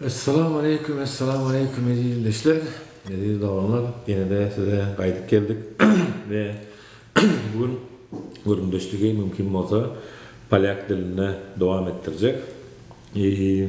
Essalamu aleýkum Essalamu aleýkum eziz ildeşler eziz doganlar ýenede size gaýdyp geldik we bu gün gürrüňdeşligi mümkin bolsa polýak dilinde dowam etdirjek i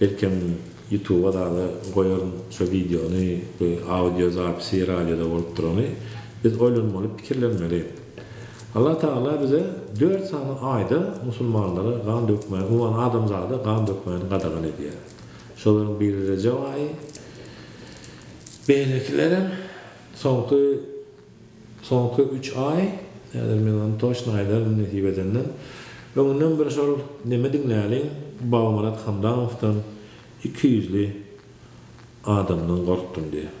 Belkem ýutuba dada goýaryn şo wideony we audio zapisi radioda bolup durany. Biz oýlanmaly pikirlenmeli. Allah Tagala bize dört sany aýda musulmanlara gan dökmäni umuman adamzada gan dökmäni gadagan edýär. Şolaryň biri Rejep aýy. Beýlekilerem soňky. Soňky üç aý, häzir men ony toçno aýdaryn nesip edenden, öňünden bir şol Neme diňläliň, Bogumyrat Hamdamowdan, ikiýüzli adamdan gorkdum diýýär.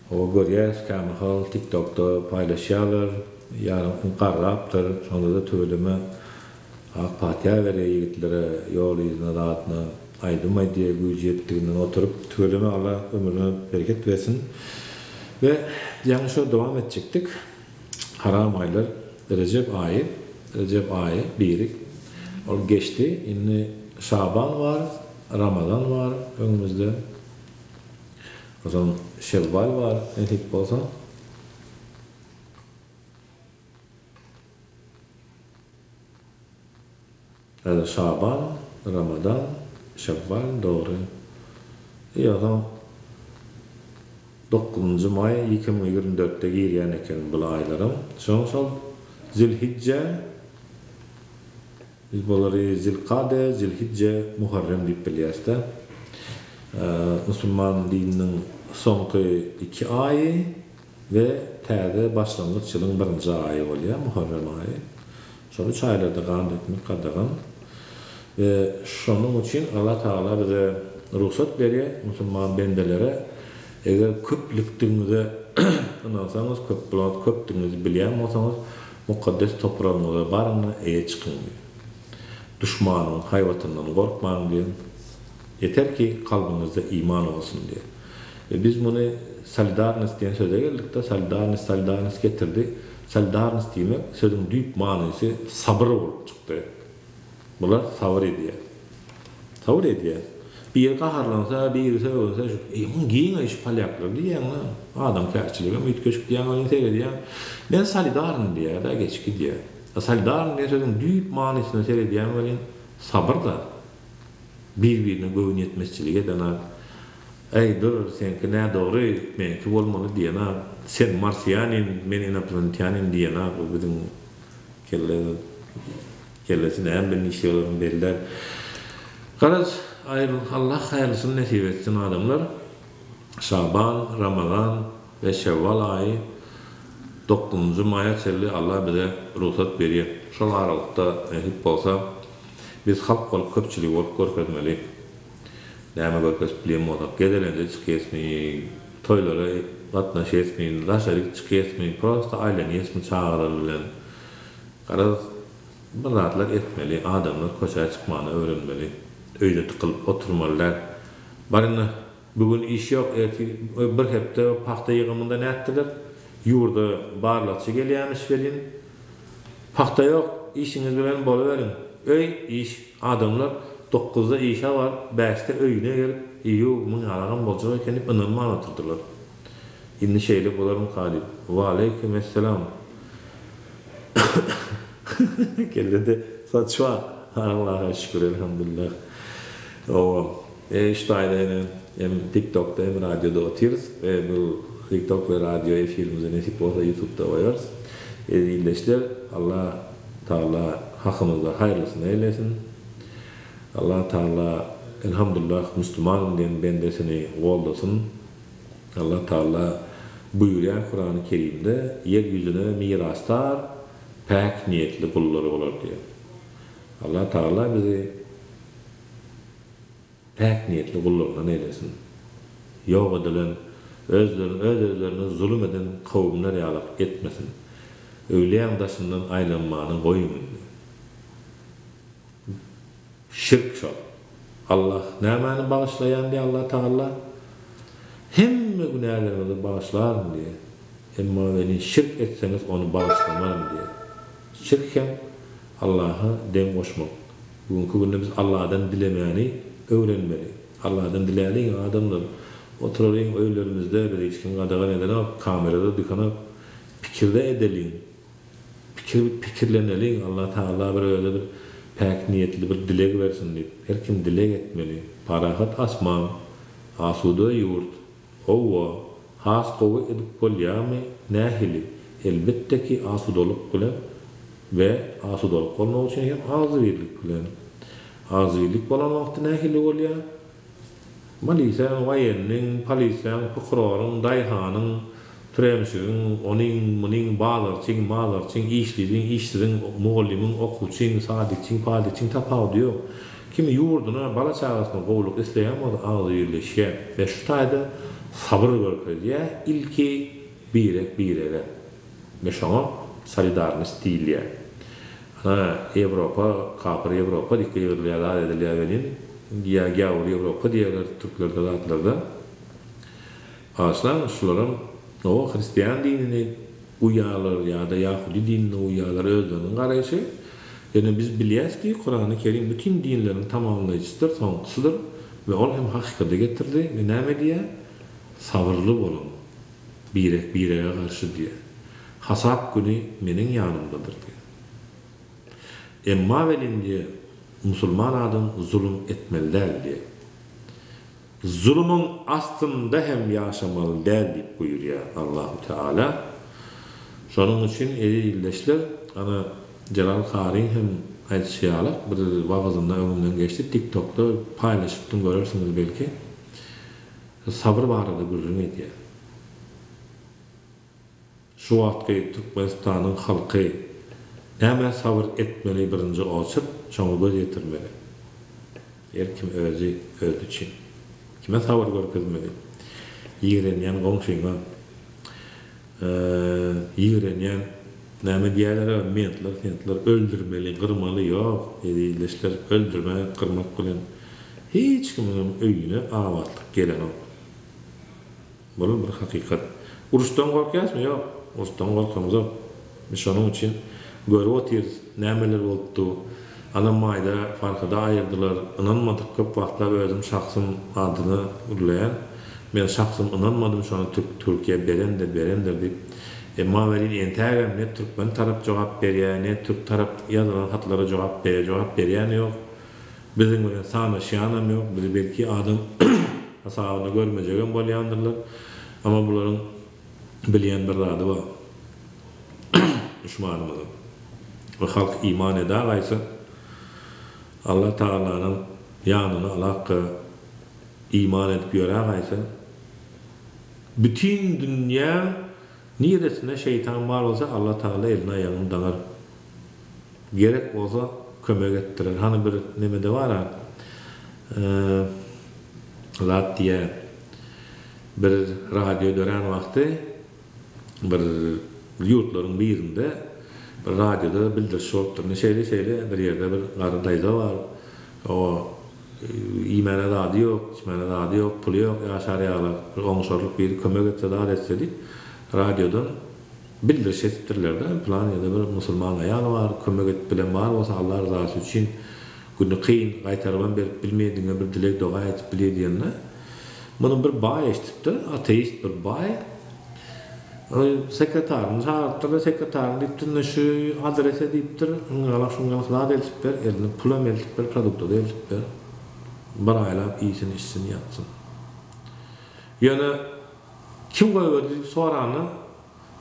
Hawa görýäs kämahal tiktokda paýlaşýalar ýarym garrapdyr şondada tüweleme ak patyýa berýä ýigitlere ýol yzyna zadyna aýdym aýdýa güýji ýetdiginden oturyp tüweleme alla ömrüne bereket bersin we ýaňy şo dowam etjekdik haram aýlar rejep aýy rejep aýy biri ol geçdi indi şaban bar ramazan bar öňümizde. Ozal şewwal bar nesip bolsa. Häzir şaban, ramadan, şewwal dogry. Eý ozal dokuzynjy maý iki müň ýigrimi dörtde girýän eken bul aýlaram. Soň şol zilhijje. Biz bulary Zilkade, Zilhijje, Muharrem diýip bilýäris-de. Musulman dininiň soňky iki aýy we täze başlangyç ýylyň birinji aýy bolýar, Muharrem aýy. Şol üç aýlarda gan dökmek gadagan we şonuň üçin Allah Tagala bize rugsat berýär, musulman bendelere, eger köplükdigiňize ynansaňyz, köpdigňizi bilýän bolsaňyz, Mukaddes topragyňyza baryň-da, eýe çykyň diýen. Duşmanyň haýbatyndan gorkmaň diýen. Ýeter ki, kalbyňyzda iman bolsun diýen. We biz muny solidarnost diýen söze geldik-de, solidarnost, solidarnost getirdi. Solidarnost diýmek, sözüň düýp manysy sabyr bolup çykdy. Bular sabyr edýär. Sabyr edýär. Biri gaharlansa, biri sögünse, muň giňeýi şu polýaklar diýýäň-ä. Adamkärçiligem üýtgeşik diýýäň welin seredýäň. Men solidarny diýýär-dä geçip gidýär. A solidarny diýen sözüň düýp manysyna seredýäň welin, sabyr-da. Bir-birine göwün ýetmezçilik eden-ä. Äý, dur, seňki nädogry, meňki bolmaly diýen-ä. Sen marsiýanin, men inoplanetýanin diýen-ä bu biziň Kelleňiň kellesi näme bilen işleýälerin belli däl. Garaz, aýrylyk Allah haýyrlysyny nesip etsin adamlar. Şaban, Ramazan we Şewwal aýy dokuzynjy maýa çenli Allah bize rugsat berýä. Şol aralykda nesip bolsa biz halk bolup köpçüligi bolup görkezmeli. Näme görkezip bilen bolak gezelenje çykyesmi toýlara gatnaşyesmi daşaryk çykyesmi prosta aýlanyesmi çagalar bilen garaz bir zatlar etmeli adamlar köçä çykmany öwrenmeli öýde tykylyp oturmaly däl bar indi bu gün iş ýok ertir bir hepde pagta ýygymynda nätdiler ýurda barlagçy gelýämiş welin Pagta ýok, işiňiz bilen boluberiň. Öý, iş, adamlar dokuzda işe baryp, bäşde öýüne gelip, ýow, muň ýalagam boljak eken diýip ynanman otyrdylar. Indi şeýle bolarmyka diýip, Waleýkim essalam! Kellede saç bar, Allaha şükür, elhamdülillah. Howam. Şu taýda ýene hem TikTokda hem radioda otyrys we bu TikTok we radio efirimizi nesip bolsa Ýutubda goýarys. Ezizleşler Allah Taala hakymyzda haýyrlysyny eýlesin. Allah Taala Elhamdullah Muslumanyn diýen bendesini goldasyn. Allah Taala buýurýar Kurany Kerimde ýer ýüzüne mirasdar päk niýetli gullary bolar diýip. Allah Taala bizi Päk niýetli gullaryna neýlesin. Ýok edilen, özlerini öz-özlerine zulum eden kowumlar ýalak etmesin. Öwlüýäň daşyndan aýlanmany goýuň indi. Şirk şol. Allah nämäni bagyşlaýan diýýär Allah Tagalla? Hemme günäleriňizi bagyşlaryn diýýär. Emma welin şirk etseňiz ony bagyşlamaryn diýýär. Şirk hem Allaha deň goşmak. Bu günki günde biz Alladan dilemäni öwrenmeli. Alladan diläliň adamlar. Oturalyň öýlerimizde bizi hiç kim gadagan edenok, kamerada dykanok. Pikirde edeliň. Pikir pikirleneliň Allah Taala bir özi bir päk niýetli bir dileg bersin diýip. Her kim dileg etmeli. Parahat asman, asuda ýurt. Howwa, has gowy edip bolýamy, nähili? Elbetde ki asudalyk bilen we asudalyk bolmak üçin hem agzybirlik bilen. Agzybirlik bolan wagty nähili bolýa? Maliseň, waýenniň, poliseň, prokuroryň, daýhanyň, Türemçigiň, onyň, munyň, bazarçyň, mazarçyň, işliziň, işsiziň, mugallymyň, okuwçyň, sadikçiň, padikçiň tapawudy ýok. Kim ýurduna, bala-çagasyna gowulyk isleýän bolsa, agzy birleşýär we şu taýda sabyr görkezýär, ilki birek-birege we şoňa solidarnost diýilýär. Ana, Ýewropa, kapyr Ýewropa diýip gygyrylýar, zat edilýär welin, ýa gäwür Ýewropa diýerler türklerde zatlarda. Başlangyç şularam Oňa hristian dinini uýýarlar ýa-da ýahudy dinini uýýarlar özleriniň garaýşy. Ýöne biz bilýäs ki Kurany Kerim bütin dinleriň tamamlaýjysydyr, soňkusydyr we ol hem hakykady getirdi we näme diýýä? Sabyrly boluň. Birek birege garşy diýýä. Hasap güni meniň ýanymdadyr diýýä. Emma welin diýýä musulman adam zulum etmeli däl diýýä. Zulumyň astynda hem ýaşamaly däl diýip buýurýar Allahu Teala. Şonuň üçin eziz ildeşler, ana, Jelal karyň hem aýdyşy ýaly, bir wagyzynda öňümden geçdi, TikTokda paýlaşypdym, görersiňiz belki. Sabyr barada gürrüň edýär. Şu wagtky Türkmenistanyň halky nämä sabyr etmeli birinji oçurt şoňa göz ýetirmeli. Her kim özi özi üçin. Kime sabyr görkezmeli? Ýigrenýän goňşyňa. Ýigrenýän näme diýýäler a mentler sentler öldürmeli gyrmaly ýok ezizleşler öldürmek gyrmak bilen hiç kimiňem öýüne abatlyk gelenok. Bul bir hakykat. Uruşdan gorkýasmy? Ýok. Uruşdan gorkamzok. Biz şonuň üçin görüp otyrys, nämeler bolupdy. Anam maýda Farhady aýyrdylar. Ynanmadyk, köp wagtlap özüm şahsym adyny gürleýän. Men şahsym ynanmadym şony türk Türkiýä berende berendir diýip. Emma welin entägem ne türkmen tarap jogap berýär, ne türk tarap ýazylan hatlara jogap berýär, jogap berýäni ýok. Biziň bilen sanaşýanam ýok, bizi belki adam hasabyna görmejegem bolýandyrlar. Emma bularyň bilýän bir zady bar. Duşmanymyzyň we halk iman edägaýsa, Alla Tagalanyň ýanyna alakga iman edip ýörägaýsa, bütin dünýä niresinde şeýtan bar bolsa, Alla Tagala elini-aýagyny daňar, Gerek bolsa kömek etdiler. Hany bir nemede bar-a, zat diýýä, bir radio dörän wagty bir ýurtlaryň birinde bir radioda bildiriş bolupdyr. Ine şeýle-şeýle bir ýerde bir garry daýza bar. Oňa iýmäne zady ýok, içmäne zady ýok, puly ýok, ýaşar ýaly. Bir oňşarlyk biri kömek etse, zat etse diýip, radiodan Bildirişi etipdirlerde plan ýerde bir musulman aýal bar kömek et bilen bar bolsa Alla ryzasy üçin güni kyn gaýtarybam berip bilmeýär diňe bir dileg doga edip bilýär diýende muny bir baý eşdipdir ateist bir baý ol sekretaryny çagyrypdyr da sekretaryny diýipdir ine şu adrese diýipdir yngalak şyngalak zat eltip ber eline pulam eltip ber produktady eltip ber bir aýlap iýsin içsin ýatsyn ýöne Kim goýberdi diýip soranda,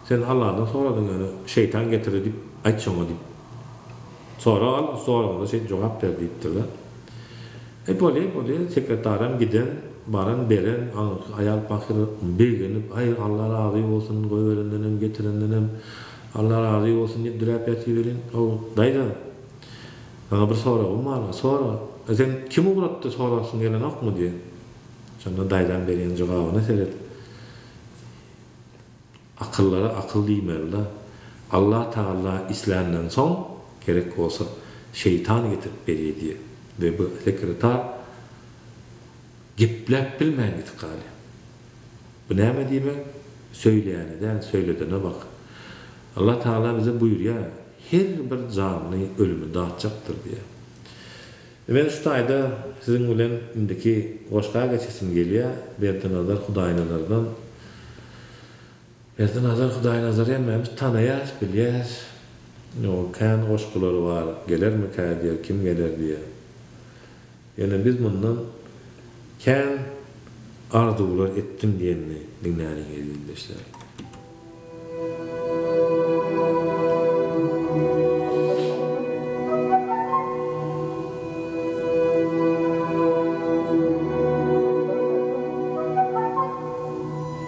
Sen Alladan soradyň, ýöne şeýtan getirdi diýip aýt şoňa diýip. Sorag al, soragyňda şeýdip jogap ber diýipdir-de. E, bolýa, bolýa, sekretaram giden, baran, beren, aňyrky aýal pahyr begenip, Aý, Alla razy bolsun, goýberendenem, getirendenem Alla razy bolsun diýip diräp ýatyberiň. Hawa, daýza, saňa bir soragym bar, sora. E, seň kim ugratdy sorasyn gelenokmy diýen. Şonda daýzaň berýän jogabyna seret. Akyllara akyl diýmelida. Allah Tagalla isländan soň, gerek bolsa, şeýtan getirip berýär diýýär. We bu sekretar gepläp bilmän gidip galýar. Bu näme diýmek? Söýleýäne däl, söýledene bak. Allah Tagala bize buýurýar, Her bir janly ölümi datjakdyr diýýär. Men şu taýda siziň bilen indiki goşga geçesim gelýär, Berdinazar Hudaýnazardan. Berdinazar Hudaýnazary hemmämiz tanaýarys, bilýäris. Onuň kän goşgulary bar, Gelermikä diýer, Kim geler diýer. Ýöne biz mundan Kän arzuwlar etdim diýenini diňläliň eziz ildeşler.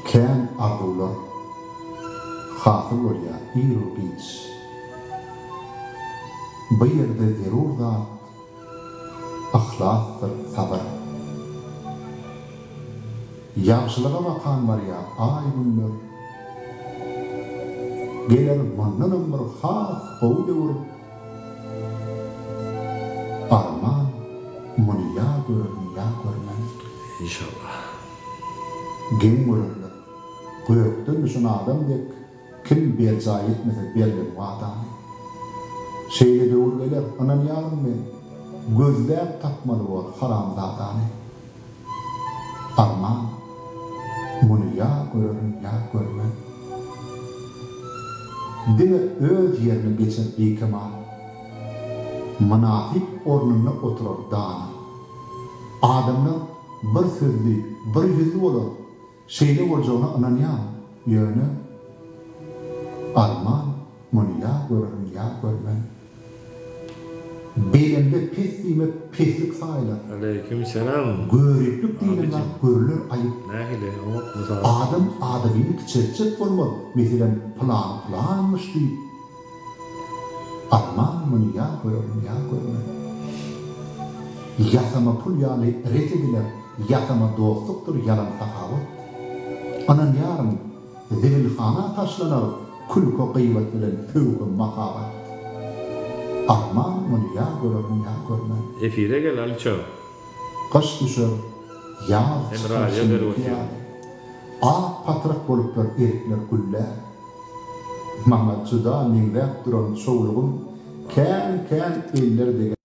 Kän arzuwlar hasyl bolýar ir-u giç. Bu ýerde zerur zat. Yhlasdyr sabyr. Ýagşylyga bakan barýar aý günler. Geler mundanam bir has gowy döwür. Arman muny ýa görerin ýa görmen. Inşallah. Geň görerler. Gökden düşen adam dek. Kim berjaý etmese berlen wadany? Şeýle döwür geler, ynanýaryn men, Gözläp tapmaly bor haramzadany. Arman, muny ýa görerin, ýa görmen. Diňe öz ýerine geçer bikemal. Mynasyp ornunda oturar dana. Adamlar bir sözli, bir ýüzli bolar, Şeýle boljagyna ynanýaň, ýöne Arman, muny ýa görerin, ýa görmen. Belemde pes diýmek peslik saýylar. Aleýkim selam. Göriplik diýilen zat görüler aýyp. Nähili oňat mysal. Adam adadyny kiçeltjek bolmaz, meselem pylany pylanmyş diýip. Amma muny ýa görerin, ýa görmerin. Ýasama pul ýaly ret ediler, ýasama dostlukdyr ýalan sahawat. Ynanýaryn, zibilhana taşlanar külki-gybat bilen pöwhem mahabat. Amma muny ýa görerin, ýa görmerin. Efire gel Alyja. Gyş düşer, ýaz çykar şimdiki ýaly. Ak patrak boluplar erikler güllär. Maňa juda meňzäp duran çowlugym kän-kän eller degär.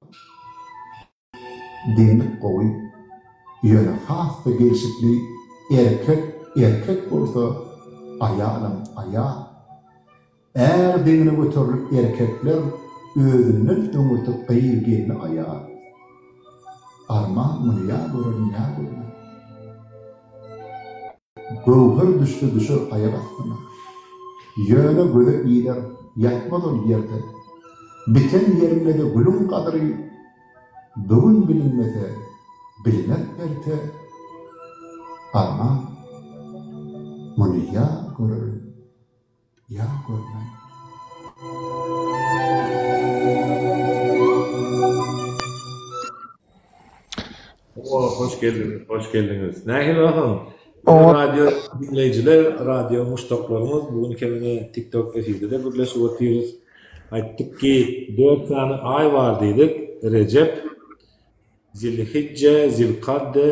Deňlik gowy, ýöne has-da gelşikli erkek erkek bolsa, aýalam aýal. Är deňine göterilip erkekler özünden öňürti gyz gelni aýar. Arman muny ýa görer ýa görmez. Göwher düşse düşer aýak astyna. Ýöne göze iler ýatmaz ol ýerde. Biten ýeriňede gülüň gadyry bu gün bilinmese bilinar erte. Arman muny ýa görer. Ýat görmäň. Oba hoş geldiňiz, hoş geldiňiz. Nähili ahal? Oňa radio diňleýjiler, radio muşdaklarymyz, bu gün kemine TikTok efirde gürleşip otyrys. Aýtdyk ki, 4 sany aý bar diýdik. Rejep, Zilhijje, Zilkade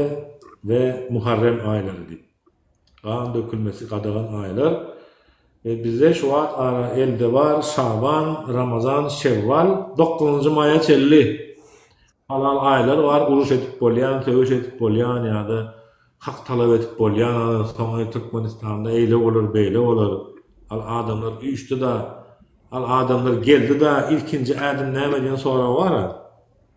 we Muharrem aýlary diýip. gan dökülmesi gadagan aýlar we bizde şu wagt ara elde bar Şaban, Ramazan, Şewwal, dokuzynjy maýa çenli halal aýlar bar uruş edip bolýan, söweş edip bolýan ýa-da hak talap edip bolýan ara soňy Türkmenistanda eýle bolar beýle bolar al adamlar üýşdi-da al adamlar geldi-da ilkinji ädim näme diýen sorag bar-a.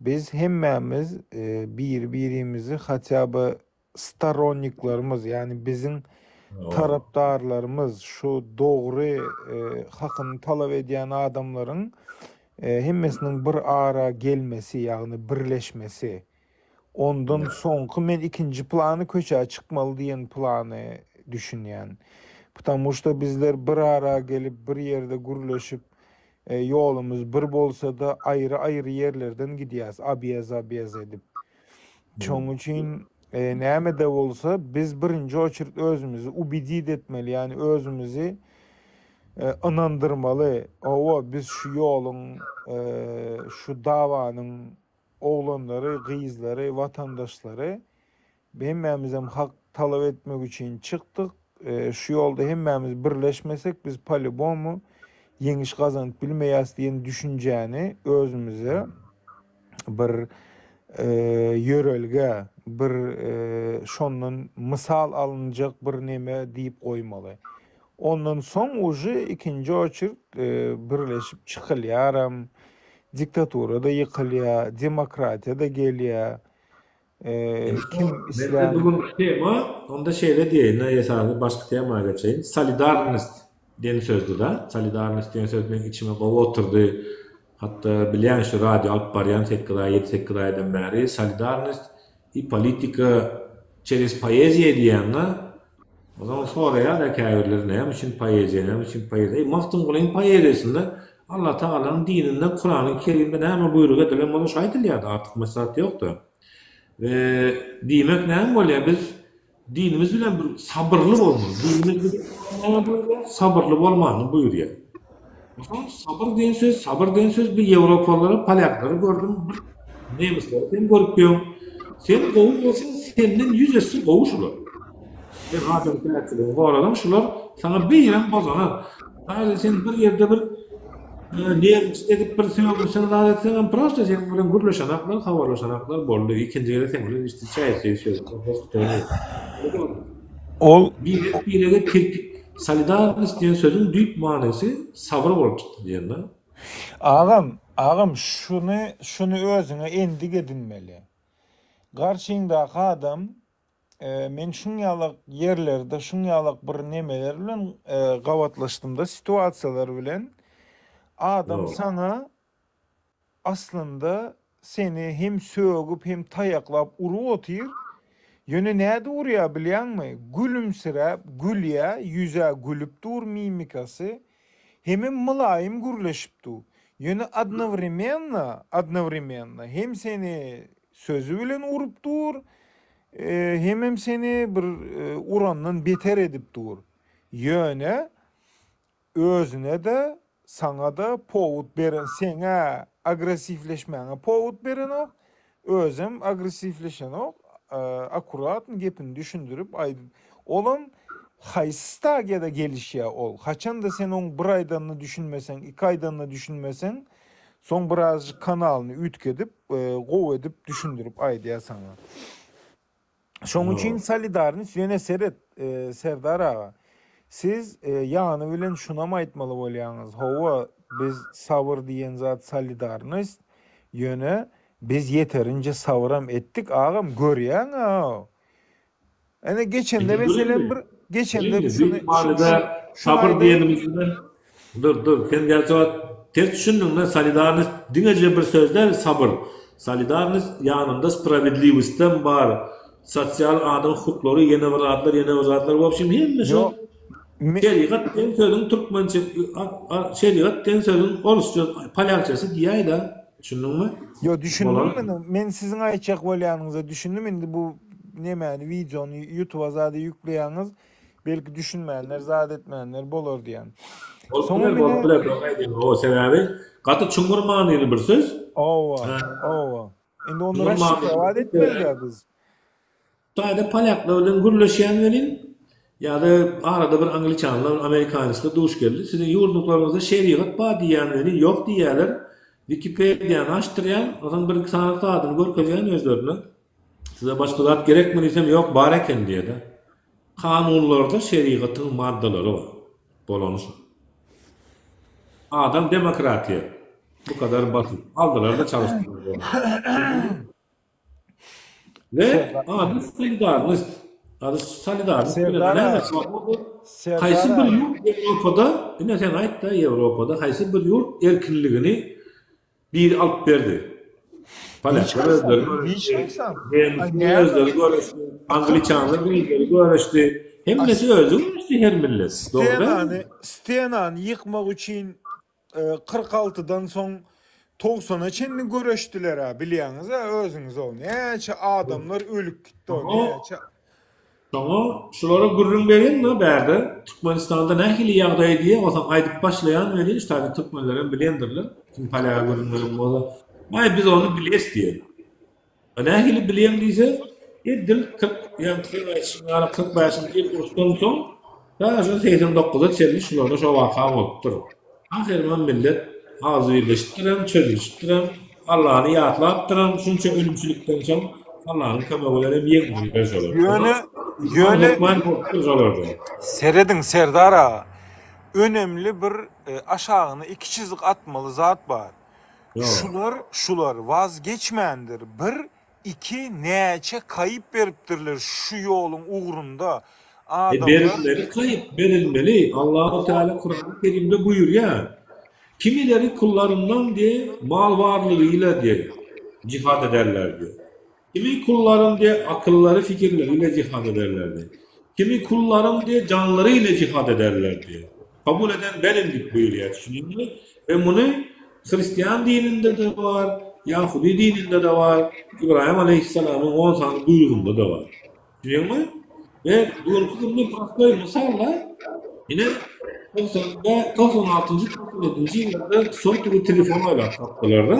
Biz hemmämiz biri-birimizi hatýa by storonniklerimiz, ýagny biziň tarapdarlarymyz, şu dogry hakyny talap edýän adamlaryň hemmesiniň bir ara gelmesi, ýagny birleşmesi, ondan soňky men ikinji plany köçä çykmaly diýen plany düşünýän. Ptamuşda bizler bir ara gelip bir ýerde gürleşip Ýolumyz bir bolsa-da, aýry-aýry ýerlerden gidýäs, abýaz-abýaz edip. Şoň üçin näme-de bolsa, biz birinji oçerd özümizi ubedit etmeli, ýagny özümizi ynandyrmaly, Hawa, biz şu ýoluň, şu dabanyň oglanlary, gyzlary, watandaşlary, Hemmämizem hak talap etmek üçin çykdyk. Şu ýolda hemmämiz birleşmesek, biz palibomu ýeňiş gazanyp bilmeýäs diýen düşünjäni özümize bir ýörelge, bir şondan mysal alynjak bir neme diýip goýmaly. Ondan soň uje ikinji oçert birleşip çykylýaram. Diktatura-da ýykylýar, demokratiýa-da gelýär. Kim islän Bu günki tema onda şeýle diýeýin esasan başky tema geçeýin. Solidarnost diýen sözdüda. Solidarnost diýen söz meniň içime gowy oturdy. Hatda bilýän şu radio alyp barýan 8 aý 7-8 aýdan bäri solidarnost i politika çerez poeziýa diýýän-de Onsoň soraýar-da käbirleri, Näme üçin poeziýa, näme üçin poeziýa? Eý, Magtymgulyň poeziýasynda Alla Tagalanyň dininde Kurany Kerimde näme buýruk edilen bolsa şo aýdylýar-da, artykmaç zat ýok-da. We diýmek näme bolýar, biz dinimiz bilen bir sabyrly bolmaly. Dinimiz bize näme buýurýar? Sabyrly bolmalyny buýurýar. Mysal, sabyr diýen söz, sabyr diýen söz bir ýewropalylary, polýaklary gördüm, bir nemisleri sen görüpdiň. Sen gowy bolsaň, senden ýüz esse gowy şular. Sen adam päkligini gorasaň, şular saňa beýrem bozanar. Häzir sen bir ýerde bir nerwist edip bir sögünseň, zat etseň hem prosta seniň bilen gürleşenaklar, habarlaşanaklar boldy. Ikinji gezek seniň bilen hiç-hiç çaý içjek söýüp. Ol birek-birege tirkik. Solidarnost diýen sözüň düýp manysy sabyr bolup çykdy diýenler. Agam, agam şuny, şuny özüňe endik edinmeli. Garşyňdaky adam men şuň ýalak ýerlerde şuň ýalak bir nemeler bilen gabatlaşdymda situasiýalar bilen adam saňa Aslynda seni hem sögüp hem taýaklap urup otyr, ýöne nädip urýar bilýäňmi, gülümsiräp gülýä, ýüzä gülüp dur mimikasy, hemem mylaýym gürleşip dur, ýöne odnowremenno, odnowremenno hem seni sözi bilen urup dur, hemem seni bir urandan beter edip dur, ýöne Özüne-de, saňa-da powut beren seň-ä, agressiwleşmäňe powut berenok, özem agressiwleşenok, akkuratn gepini düşündirip aýdyp, olam haýsy stadiýada gelişýä ol, haçanda sen oň bir aýdanyna düşünmeseň, iki aýdanyna düşünmeseň, soň birazjyk kanalyny üýtgedip, gowy edip düşündirip aýdýa saňa. Şoň üçin solidarnoç ýöne seret Serdar aga siz ýany bilen şunam aýtmaly bolýaňyz hawa biz sabyr diýen zat solidarnost ýöne biz ýeterinje sabyram etdik agam görýäň a ene geçende meselem bir geçende şuny şuny şuny aýdaýyn. Dur, dur, sen gerçi ot ters düşündiňdä, solidarnost diňeje bir söz däl, sabyr. Solidarnost ýanynda sprawedliwostem bar, sosial adam hukuklary, ýene bir zatlar, ýene bir zatlar, w obşem hemme şo Şerigat diýen sözüň türkmençe, şerigat diýen sözüň orsça, polýakçasy diýäýdä, düşündiňmi? Ýo, düşündim men, men siziň aýtjak bolýanyňyza düşündim, indi bu nemäni, wideony ýutuba zada ýükleýäňiz, Belki düşünmänler, zat etmänler bolar diýýän. Bolup biler, bolup biler, dogry aýdýaň. Hawa, sebäbi gaty çuňňur manyly bir söz. Hawa, hawa. Indi onda raşşika zat etmeli-dä biz. Taýda polýaklar bilen gürleşýän welin, ýa-da arada bir angliçanlar, amerikanisler duş geldi. Siziň ýurduňyzda şerigat bar diýýän welin, ýok diýýäler. Wikipediýany açdyrýan, onuň bir-iki sany zadyny görkezýän özlerine. Size başga zat gerekmi diýsem, ýok, bar eken diýýär-de. Kanunlarda şerigatyň maddalary bar. Bolany şo. Adam demokratiýa bu kadar basyp, aldylar-da çalyşdylar. We ady solidarnost. Ady solidarnost. Serdar, haýsy bir ýurt Ýewropada, ine sen aýt-da, Ýewropada haýsy bir ýurt erkinligini Biri alyp berdi. Polýaklar özleri göreşdi. Angliçanlar özleri göreşdi. Hemmesi özi göreşdi her millet. Stenany, stenany ýykmak üçin kyrk altydan soň togsana çenli göreşdiler-ä, bilýäňiz-ä özüňiz ony. Näçe adamlar ölüp gitdi o, näçe. Şoňa şulara gürrüň beriň-le bärde Türkmenistanda nähili ýagdaý diýe bolsaň aýdyp başlaýan welin şu taýda türkmenlerem bilendirler kim polýaga gürrüň beren bolsa aý biz ony biles diýer. A nähili bilýäň diýse e dil kyrk ýaňky aýtşyň ýaly kyrk bäşinji ýyl uruşdan soň Ýaşy segsen dokuza çenli şularda şo waka bolupdyr. Ahyrynam millet agzybirleşipdirem, çözülişipdirem, Allany ýatlapdyram, şunça ölümçilikden soň Allanyň kömegi bilenem ýeňdiripdir şolar. Ýöne, ýöne, hökman bolupdyr şolarda. Serediň, Serdar aga, önemli bir aşagyna iki çyzyk atmaly zat bar. Ýa. Şular, şular wazgeçmändir, bir Iki näçe kaýyp beripdirler şu ýoluň ugrunda adamlar. Berilmeli kaýyp berilmeli Allahu Teala Kurany Kerimde buýurýar kimileri kullarymdan diýe mal barlygy ile diýe jihad ederler diýe kimi kullarym diýe akyllary fikirleri ile jihad ederler diýe kimi kullarym diýe janlary ile jihad ederler diýe. Kabul eden berendik buýurýar düşündiňmi we muny hristian dininde-de bar, ýahudy dininde-de bar, Ybraýym aleýhissalamyň on sany buýrugynda-da bar. Düşündiňmi? We bu günki günde prostoý mysal-da, ine, Kyrkda, kyrk altynjy, kyrk ýedinji ýyllarda sotowý telefon oýlap tapdylar-da,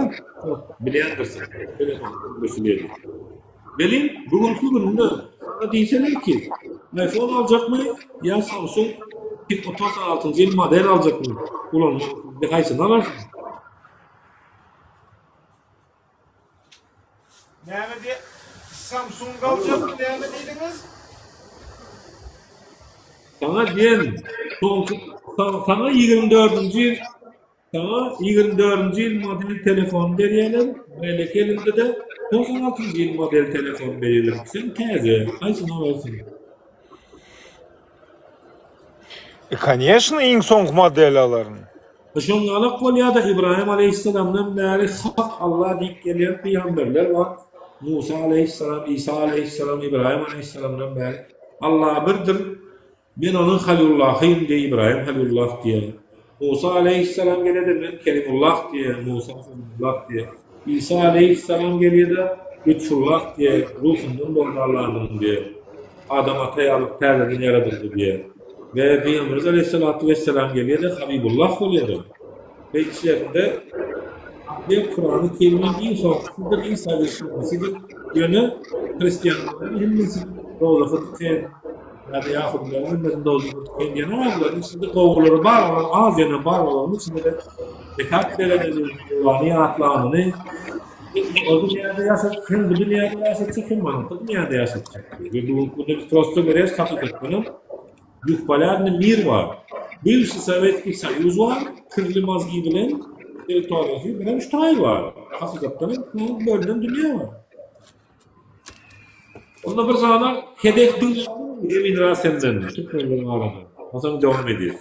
bilýändirsiň, telefon gürrüldisi diýlip. Welin, bu günki günde maňa diýseniňki, iPhone aljakmy ýa Samsung Pic otuz altynjy ýyl model aljakmy ulanmak, indi haýsyny alarsyň? Näme diýip, Samsung aljakmy näme diýdiňiz? Saňa diýen, soňky, saňa ýigrimi dördünji ýyl. Saňa ýigrimi dördünji ýyl model telefon berýärler, beýleki elinde-de togsan altynjy ýyl model telefon berýärler. Sen täze, haýsyny alarsyň? E, Koneşno, iň soňky modeli alaryn. Şoň galak bolýa-da, Ybraýym aleýhissalamdan bäri hak Alla diýip gelýän pygamberler bar. Musa aleýhissalam, Isa aleýhissalam, Ybraýym aleýhissalamdan bäri. Alla birdir. Men ony Halyullahym diýe, Ybraýym Halyullah diýe, Musa aleýhissalam gelede men Kelimullah diýe, Musa Kelimullah diýe, Isa aleýhissalam gelýede Lütfullah diýe, Ruhumdan boldy Allandan diýe, Adam ata ýaly täzeden ýaradyldy diýe we Pygamberimiz aleýhissalatu wessalam gelýede Habibullah bolýada. Beýiklerinde Akber Kurany Kerimiň iň hormatlydyr, iň saýyşlysydyrsydyr. Ýöne hristianlaryň hemmesi dowzaha diken, ýa-da ýahudylaryň hemmesi dowzaha diken diýen ýaly bularyň içinde gowulary bar, olar az ýöne bar olaryň içinde-de zekat berenini, Allany ýatlanyny hem o dünýäde ýaşadyp, hem bu dünýäde ýaşadyp, hem oňky dünýäde ýaşadyp çykdy. Bu gün-ä biz prosty görýäs, hakykatdanam, Bespolýadny mir bar. Bywşy Sowetskiý Soýuz bar, kirli mozgi bilen territoriýasy bilen ştoý bar. Hakykatdan hem bu bölünen dünýä bar. Onda bir zada hedef diňläp durun Emin Rasenden, türkmenleriň arasynda. Onsoň dowam edýäs.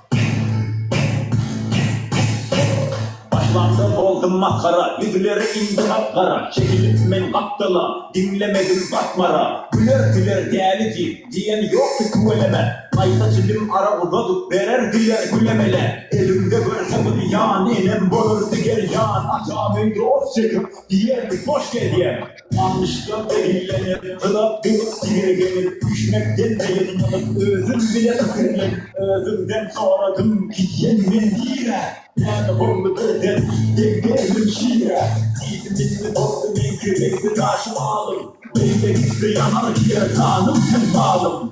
Başlanda boldum masgara, Ýüzleri indi gap-gara. Çekilip men gapdala, Diňlemedim Batmara. Güler, güler däli diýip, Diýen ýokdy tüweleme. Gaýta çilim ara uzadyp, Bererdiler güle-mele. Elimde görse bir ýan, Enem bolardy gerýan. Atam öýde ot çekip, Diýerdi, Boş gezýäň. Almyşlar zehinlenip, ylap bolup tirgenip, Düşnekden taýynmanyp, özüm bile pikirlenip, Özüňden soradym, gidýän men nirä? Täze boldy birden, deň-deglim şirä. Diýdi milli dostum, meňki reňki daşy alym, Beýle gitse ýanar gider ganym sen zalym.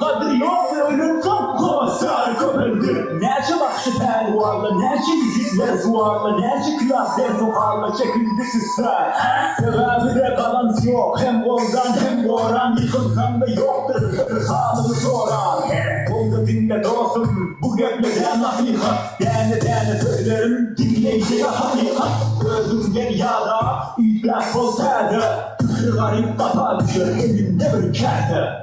Gadyr ýokdy öýlensoň Gowaç sary köpeldi. Näçe bagşy pälwanla Näçe ýigit merzuwanla Näçe küýäp dersu-halla Çekildi süsgä Sebäbi-de galans ýok Hem goldan hem goran Ýykylsaň-da ýokdur Bir halyňy soran Boldy diňle dostum Bu gepler-ä nasyhat Däne-däne sözlerim Diňleýjä hakykat Özüňden ýada Üýtgäp bol täze Pikiri garyp gapa düşer Elinde bir käse.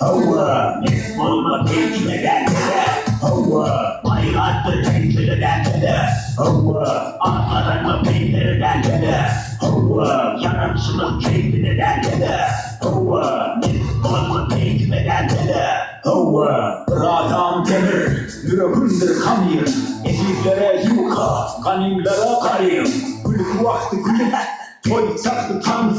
Hawa, pes bolma kemçile däl-de-de, Hawa, baýratdyr kemçile däl-de-de, Hawa, at gazanma peýlere däl-de-de, Hawa, ýaranşyma keýpine däl-de-de, Hawa, mes bolma peýkime däl-de-de, Hawa. Bir adam demir, ýüregimdir hamyr, Ezizlere ýuka, ganymlara garym, Gülki wagty gülüp, toý çagty tans,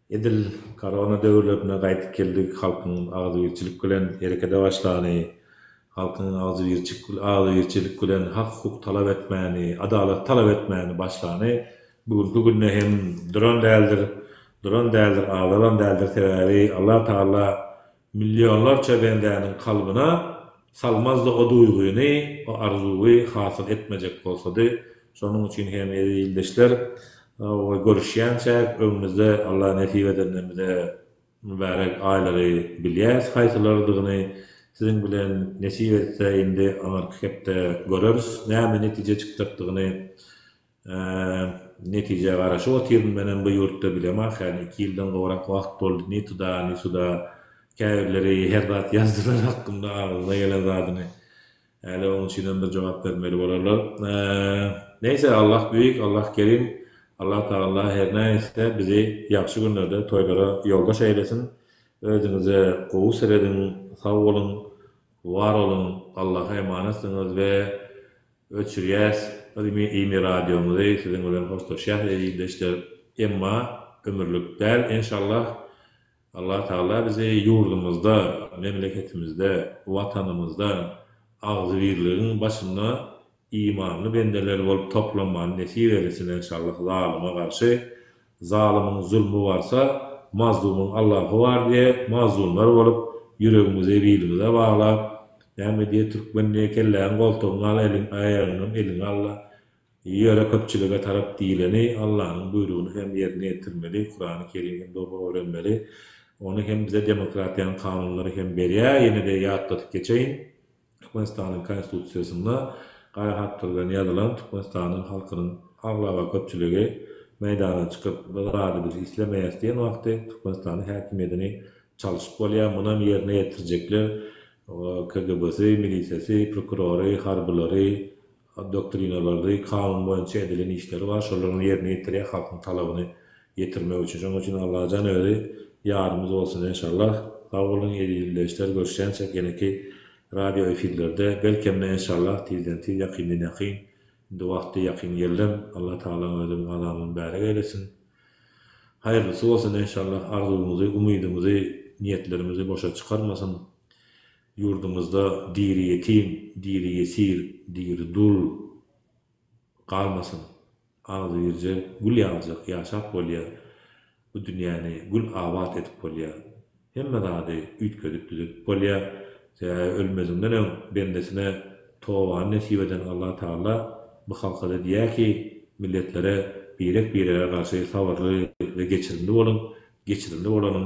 Edil korona döwürlerinde gaýdyp geldik, halkyň agzybirçilik bilen herekete başlany, halkyň agzybirçilik bilen hak-hukuk talap etmäni, adalat talap etmäni başlany bu günki günde hem duran däldir, duran däldir, azalan däldir, sebäbi Allatagala Millionlarça bendäniň kalbyna salmazdy o duýgyny, o arzuwy hasyl etmejek bolsady. Şonuň üçin hem eziz ildeşler, we görüşýänçäk öňümizde Allah nesip edende bize mübärek aýlary bilýäs haýsylarydygyny siziň bilen nesip etse indi aňyrky hepde göreris näme netije çykjakdygyny Netijä garaşyp otyryn. Menem bu ýurtda bilemok hany iki ýyldan gowrak wagt boldy ni tuda ni suda käbirleri her zat ýazdylar hakkynda agzyna gelen zadyny häli oň üçinem bir jogap bermeli bolarlar. Neýse Allah büýük Allah kerim Allah tagalla her nähilse bizi ýagşy günlerde toýlara ýoldaş eýlesin özüňize gowy serediň sag boluň war boluň Allaha emanetsyňyz we Öçürýäs Imi Radiomuzy siziň bilen hoşlaşýas eziz ildeşler emma ömürlik däl enşallah Allah Taala bizi ýurdumyzda memleketimizde watanymyzda agzybirligiň başynda imanly bendeler bolup toplanmany nesip eylesin enşallah zalyma garşy Zalymyň zulmy barsa, mazlumyň Allahy bar diýe mazlumlar bolup, ýüregimizi bilimize baglap, näme diýe türkmen diýe kelläňi goltugyňa al, eliň, aýagyňam eliňe al-da, ýöre köpçülige tarap diýleni Allanyň buýrugyny hem ýerine ýetirmeli, Kurany Kerim hem dogry öwrenmeli. Ony hem bize demokratiýanyň kanunlary hem berýär, ýene-de ýatladyp geçeýin. Türkmenistanyň Konstitusiýasynda gaýa hatlar bilen ýazylan Türkmenistanyň halkynyň aglaba köpçüligi meýdana çykyp, Biz razy, biz islemeýäs diýen wagty Türkmenistanyň häkimiýetini çalşyp bolýar. Munam ýerine ýetirjekler KGB-si, milisiýasy, prokurory, harbylary, doktrina bardy, kanun boýunça edilen işleri bar, şolaryny ýerine ýetirýär, halkyň talabyny ýetirmek üçin. Şonuň üçin Allajan özi ýarymyz bolsun enşallah. Sag boluň eziz ildeşler, görüşýänçäk ýeneki radio efirlerde, belkem-de enşallah tizden tiz, ýakyndan ýakyn, indi wagty ýakyn geldim, Alla Tagala özi gazamyny mübärek eýlesin. Haýyrlysy bolsun enşallah, arzuwyňyzy, umydyňyzy, niýetlerimizi boşa çykarmasyn. Ýurdumyzda diri ýetim, diri ýesir, diri dul galmasyn. Agzybirje gül ýaljak ýaşap bolýar. Bu dünýäni gül abat edip bolýar. Hemme zady üýtgedip düzedip bolýar. Sebäbi ölmezinden öň bendesine tobany nesip eden Allah Tagala bu halkada diýýär ki, milletlere birek-birege garşy sabyrly we geçirimli boluň, geçirimli bolanyň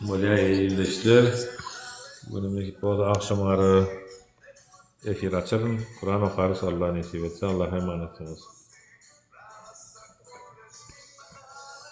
Bolýar il-il işler. Bu gün nesip bolsa agşamara efir açaryn. Kuran okarys Allah nesip etse. Allaha emanetsyňyz.